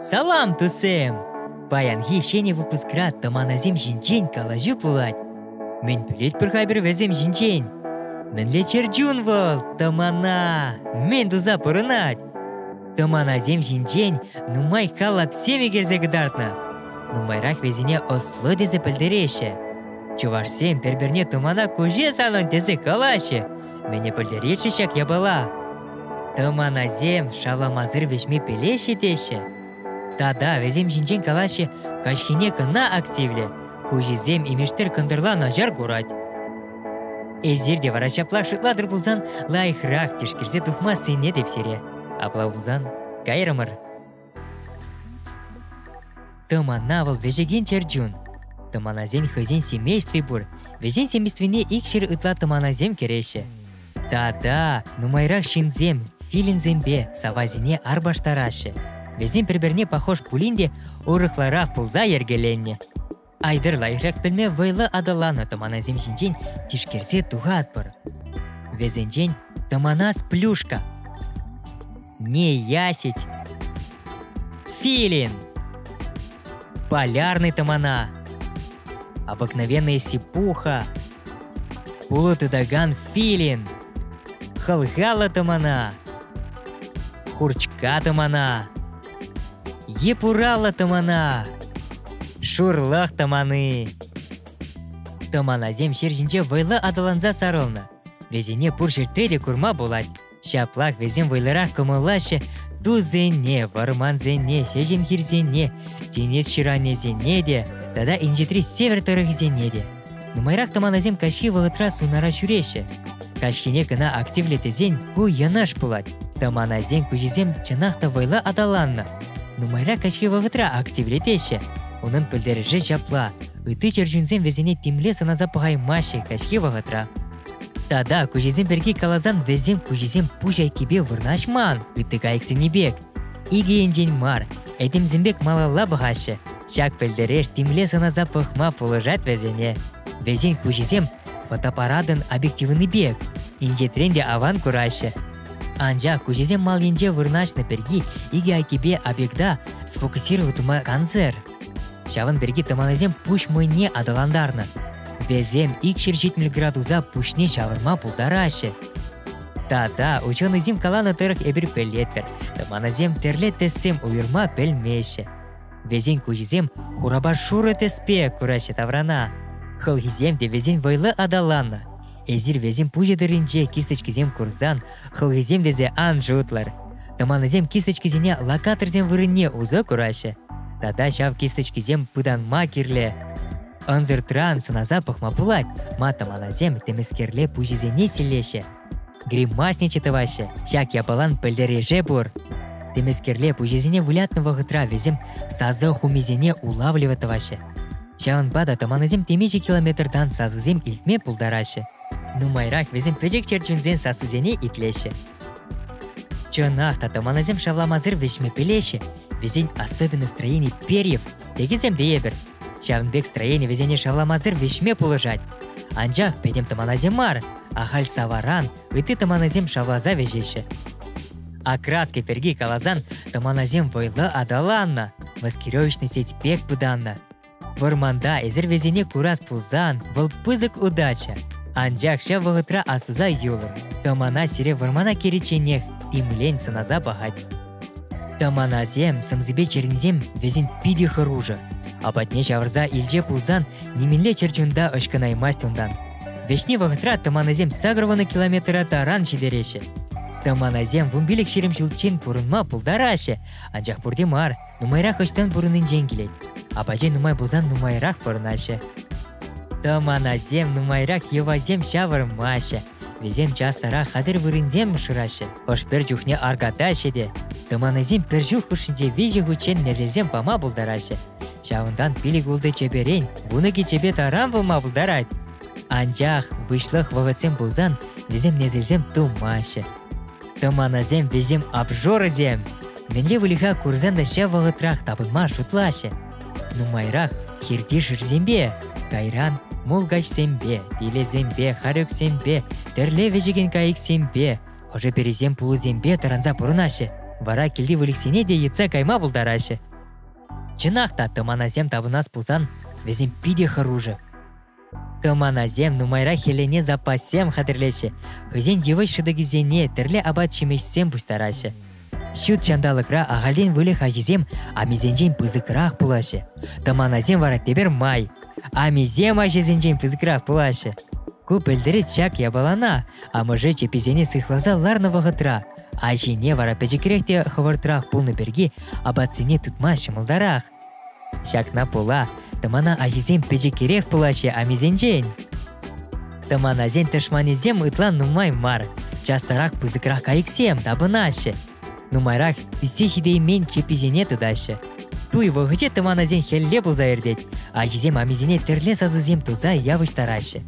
Салам, тусем! Паянхи ҫӗнӗ выпускра тӑманасем ҫинчен калаҫу пулать. Мӗн пӗлетпӗр-ха пӗр вӗсем ҫинчен? Мӗнле чӗрчун вӑл, тӑмана! Мӗн туса пурӑнать? Тӑманасем ҫинчен нумай калапсем ӳкерсе кӑтартнӑ. Нумайрах вӗсене ӑслу тесе пӗлтереҫҫӗ. Чӑвашсем пӗр-пӗрне тӑмана куҫе санӑн тесе калаҫҫӗ. Мӗне пӗлтеретчӗ ҫак япала? Тӑманасем шаламасӑр вӗҫме пӗлеҫҫӗ теҫҫӗ. Тата вӗсем ҫинчен калаҫҫӗ, каҫхине кӑна активлӗ. Хуҫисем имештер кӑнтӑрла начар курать. Эсир те вара ҫапла шутлатӑр пулсан лайӑхрах тишкерсе тухмассине те сире. Апла пулсан, кайрӑмӑр. Тӑмана вӑл вӗҫекен чӗрчун. Тӑманасен хӑйсен семействи пур. Вӗсен семействине икҫӗр ытла тӑманасем кӗреҫҫӗ. Тата нумайрах ҫынсем филинсемпе савасене арпаштараҫҫӗ. Вӗсем пӗр-пӗрне пахож пулин те урӑхларах пулса йӗркеленнӗ. Айтӑрла ирӗк пӗлме вӑйлӑ аталаннӑ тӑманасем ҫинчен тишкерсе тухатпӑр. Вӗсенчен тӑманас плюшка. Неясить. Филин. Полярный тӑмана. Обыкновенная сипуха. Пулӑ тытакан филин. Хӑлхаллӑ тӑмана. Хурчка тӑмана. Йӗпураллӑ тӑмана, шурлӑх тӑмани. Тӑманасем ҫер ҫинче вӑйлӑ аталанса сарӑлнӑ. Вӗсене пур ҫӗрте те курма пулать. Ҫаплах вӗсем вӑйлӑрах кӑмӑллаҫҫӗ тусене, вӑрмансене, ҫеҫен хирсене, тинӗс ҫыранӗсене те тата инҫетри север тӑрӑхӗсене те. Нумайрах тӑманасем каҫхи вӑхӑтра сунара ҫӳреҫҫӗ. Каҫхине кӑна активлӗ тесен ку йӑнӑш пулать. Тӑманасен куҫӗсем чӑнах та вӑйлӑ аталаннӑ. Нумайра каҫхи вӑхӑтра активлетеҫҫӗ. Унӑн пӗлтерӗшӗ ҫапла: ытти чӗрчунсем вӗсене тимле сӑнаса пӑхаймаҫҫӗ каҫхи вӑхӑтра. Тата куҫӗсем пирки каласан вӗсем куҫӗсем пуҫ айккипе вырнаҫман, ытти кайӑксенни пек. Икӗ енчен мар, этемсем пек малалла пӑхаҫҫӗ. Ҫак пӗлтереш темле сӑнаса пӑхма пулӑшать вӗсене. Вӗсен куҫӗсем фотоапаратӑн объективлӑнипех, инҫетрен те аван кураҫҫӗ. Анчах куҫӗсем маллинче вырнаҫнӑ пирки икӗ айккипе объекта сфокусировать тума кансӗр. Ҫавӑн пирки тӑманасем пуҫ мӑйне аталантарнӑ. Вӗсем ик ҫӗр ҫитмӗл градуса пуҫне ҫавӑрма пултараҫҫӗ. Та-та, ученӑйсем каланӑ тӑрӑх эпир пӗлетпӗр, тӑманасем тӗрлӗ тӗссем уйӑрма пӗлмеҫҫӗ. Вӗсен куҫӗсем хурапа шурӑ тӗспе кураҫҫӗ таврана. Хӑлхисем те вӗсен вӑйлӑ аталаннӑ. Эсир вӗсен пуҫӗ тӑрринче кисточкисем курсан хӑлхисем тесе ан шутлӑр. Тӑманасем кисточкисене локаторсем вырӑнне усӑ кураҫҫӗ. Тата ҫав кисточкисем пытанма кирлӗ. Ӑнсӑртран сӑнаса пӑхма пулать, матамаласем темӗскерле пуҫӗсене силлеҫҫӗ. Гримасниче тӑваҫҫӗ, ҫак япалан пӗлтерӗше пур. Темӗскерле пуҫӗсене вылятнӑ вӑхӑтра вӗсем сасӑ хумисене улавлӑвӗ тӑваҫҫӗ. Ҫавӑнпа та тӑманӑсем темиҫе километртан сасӑсем илтме пултараҫҫӗ. Нумайрах вӗсем пӗчӗк чӗрчунсен сассисене итлеҫҫӗ. Чӑнах та тӑманасем шавламасӑр вӗҫме пӗлеҫҫӗ. Вӗсен особенный строени перьев, текӗсем те эпир, Ҫавӑн пек строени вӗсене шавламасӑр вӗҫме пулӑшать. Анчах пӗтӗм тӑманасем мар, ахаль саваран ытти тӑманасем шавласа вӗҫеҫҫӗ. Окраски пирки каласан, тӑманасем вӑйлӑ аталаннӑ, маскировочный сеть пек пытаннӑ. Вӑрманта эсир вӗсене курас пулсан, вӑл пысӑк удача. Анчах ҫав вӑхӑтра астуса юлӑр, тӑмана сире вӑрмана кӗричченех тимлен сӑнаса пӑхать. Тӑманасем, сӑмсипе чӗрнисем вӗсен питӗ хӑрушӑ. Апатне ҫавӑрса илче пулсан нимӗнле чӗрчунта ӑшкӑнаймасть унтан. Вӗҫни вӑхӑтра тӑманасем сакӑрвӑнӑ километра таран ҫитереҫҫӗ. Тӑманасем вунпилӗк ҫирӗм ҫулччен пурӑнма пултараҫҫӗ, анчах пурте мар, нумайрах ӑҫтан пурӑннинчен килет. Апачӗ нумай пулсан нумайрах пурӑнаҫҫӗ. Тӑманасем нумайрах йӑвасем ҫавӑрмаҫҫӗ, Вӗсем час-тарах хатӗр вырӑнсем шыраҫҫӗ. Хӑш-пӗр чухне арката ҫӗтӗ. Тӑманасем пӗр ҫул хушшинче виҫӗ хутчен несӗлсем пама пултараҫҫӗ. Ҫавӑнтан пилӗк-ултӑ чеперен вун икӗ чепе таран пулма пултарать. Анчах выҫлӑх вӑхӑтсем пулсан вӗсем несӗлсем тумаҫҫӗ. Тӑманасем вӗсем обжорӑсем. Мӗнле выльӑха курсан та ҫав вӑхӑтрах тапӑнма шутлаҫҫӗ. Нумайрах хирти шырсемпе, кайран мулкачсемпе, пилесемпе, харюксемпе, тӗрле вӗчекен кайӑксемпе, ӑшӑ-пересем пулӑсемпе тӑранса пурӑнаҫҫӗ, вара килти выльӑхсене те йӑтса кайма пултараҫҫӗ. Чӑнах та тӑманасем тапӑнас пулсан вӗсем питӗ хӑрушӑ. Тӑманасем нумайрах хӗлене запассем хатӗрлеҫҫӗ, хӑйсен йывӑҫ шӑтӑкӗсене тӗрлӗ апат-ҫимӗҫсем пуҫтараҫҫӗ. Ҫут ҫанталӑкра ахальтен выльӑх аҫисем амисенчен пысӑкрах пулаҫҫӗ. Тӑманасем вара тепӗр май амисем аҫисенчен пысӑкрах пулаҫҫӗ. Ку пӗлтерет ҫак япалана. Амӑшӗ чӗпписене сыхласа ларнӑ вӑхӑтра аҫине вара пӗчӗкрех те хӑвӑртрах пулнӑ пирки апатсене тытма ҫӑмӑлтарах. Ҫакна пула тӑмана аҫисем пӗчӗкрех пулаҫҫӗ амисенчен. Тӑманасен тӑшманӗсем ытла нумай мар, частарах пысӑкрах кайӑксем тапӑнаҫҫӗ. Нумайрах ӳссе ҫитеймен чепписене тытаҫҫӗ. Туй вӑхӑчӗ тӑманасен хӗлле пулса иртет. Аҫисем амисене тӗрле сасӑсем туса явӑҫтараҫҫӗ.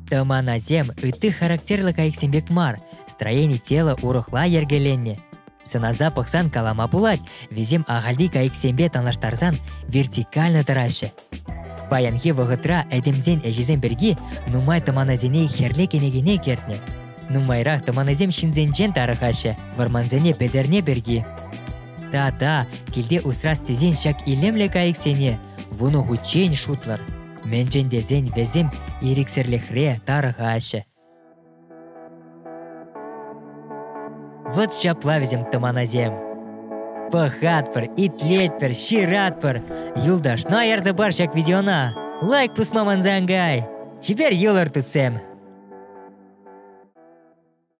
Тӑманасем ытти характерлӗ кайӑксем пек мар, строени тела урӑхла йӗркеленнӗ. Сӑнаса пӑхсан калама пулать, вӗсем ахальти кайӑксемпе танлаштарсан вертикально тӑраҫҫӗ. Паянхи вӑхӑтра этемсен ӗҫӗсем пирки нумай тӑманасене хӗрлӗ кӗнекене кӗртнӗ. Нумайрах тӑманасем ҫынсенчен тарӑхаҫҫӗ, вӑрмансене пӗтерне пирки. Та-та, килте усрас тесен ҫак илемлӗ кайӑксене вунӑ хутчен шутлӑр. Мӗншӗн тесен вӗсем ирӗксӗрлӗхре тарӑхаҫҫӗ, Вот ҫапла вӗсем тӑманасем. Пӑхатпӑр, итлетпӗр, ҫыратпӑр. Юлташна ярсапар ҫак видеона. Лайк пусма мансангай. Теперь юлӑр туссем.